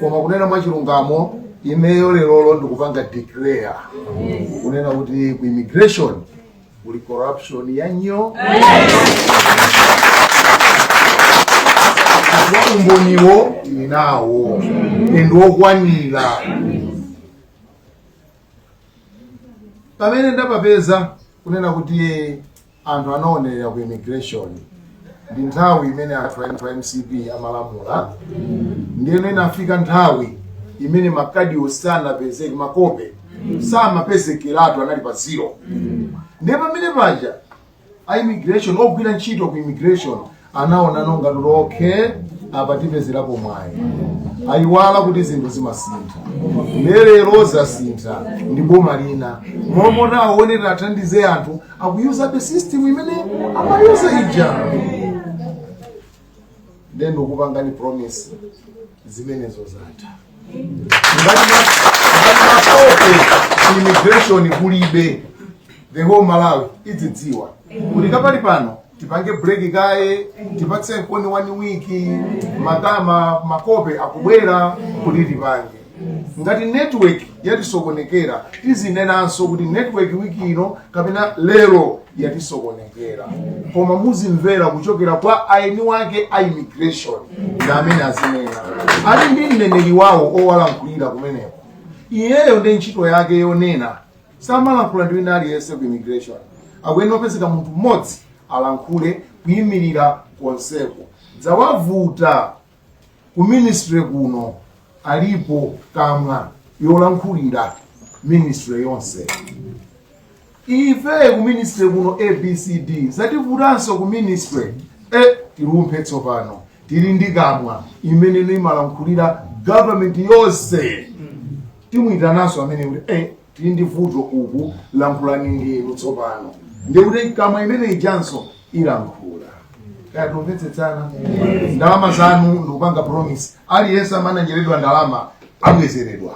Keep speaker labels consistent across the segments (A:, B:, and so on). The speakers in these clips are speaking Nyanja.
A: koma kunena mwachilungamo ineyo lerolo ndikupanga declare kunena kuti ku immigration kuli corruption ya nyoo umboniwo tili nawo ndi wokwanira pamene ndapapeza kunena kuti Anthu anaonerera ku immigration ndi nthawi imene anthu a anthu a mcp amalamula ndiyeno inafika nthawi imene makadiwo samapezeka makope samapezekeratu anali pa zero ndiye pamene paja a immigration ogwira ntchito ku immigration anaona ngati okay apa tipezerepo mwayi ayiwala kuti zinthu zimasintha lero zasintha ndi boma lina mmomwe aonera athandize anthu akuyuzabe system imene amayuza ija then ndikupangani promise zimenezo zatha ngati makope immigration kulibe the whole malawi idzidziwa kuti kapali pano tipange break kaye tipatse mkono one week mawamawa makope akubwera kuti tipange ngati network yatisokonekera tizinenanso kuti network wiki ino kapena lero yatisokonekera koma muzimvera kuchokera kwa eni ake a immigration ndi amene azinena ali ndi mneneri wawo owalankhulira kumeneko iyeyo ndi ntchito yake yonena samalankhula ndi wina aliyense ku immigration akuyenera kupezeka munthu mmodzi alankhule kuyimirira konseko zawavuta Ku ministry kuno alipo kamwa yolankhulira ministry yonse. Ife ku ministry kuno ABCD zativutanso ku ministry eh, tilumphe tsopano tili ndi kamwa imene imalankhulira government yonse timuitananso amene kuti eh, tili ndi vuto uku lankhulani ndinu tsopano ndikuti kamwa imene ijanso ilankhula kaya tamvetsetsana ndalama zanu ndikupanga promise aliyense amene anadyeredwa ndalama abwezeredwa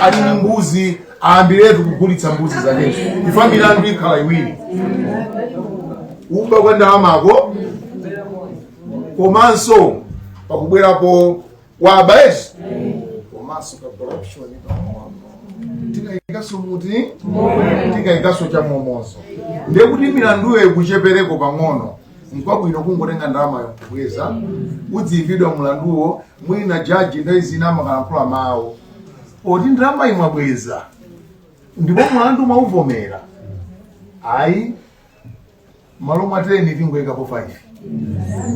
A: ali ni mbuzi aambiretu kugulitsa mbuzi zakezo ifa milandu ikhala iwiri kuba kwa ndalamako komanso pakubwerapo wa bribes komanso ka corruption pang'ono tikayikanso muti tikayikanso cha momomo ndiye kuti milanduyo ikuchepereko pang'ono nkwabwino kungotenga ndalamayo kubweza udziimbidwa mlanduwo mwina jaji nthawi zina amakalankhula mawu oti ndalama munabweza ndipo mlandu mwauvomera ayi malo mwa 10 tingoyikapo 5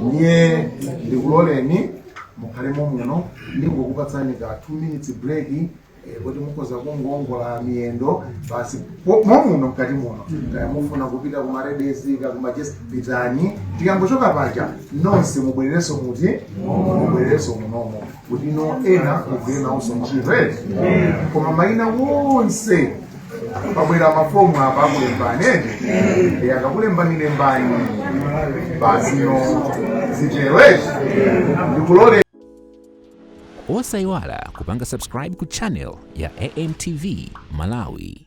A: ndiye ndikuloleni mukhale momuno ndingokupatsani ka 2 minutes break eh, kuti mukhoza kungowongola miyendo basi po- momuno mkati muno kaya mufuna kupita ku ma ladies kaya ku ma gents pitani tikangochoka paja nonse mubwererenso kuti mubwererenso munomo kutinso ena mugwire nawonso ntchito ere koma mayina onse pabwera mafomu apa akulembani ende e akakulembani lembani basi ndiye zitero ere
B: ndikulole osayiwala kupanga subscribe ku channel ya amtv malawi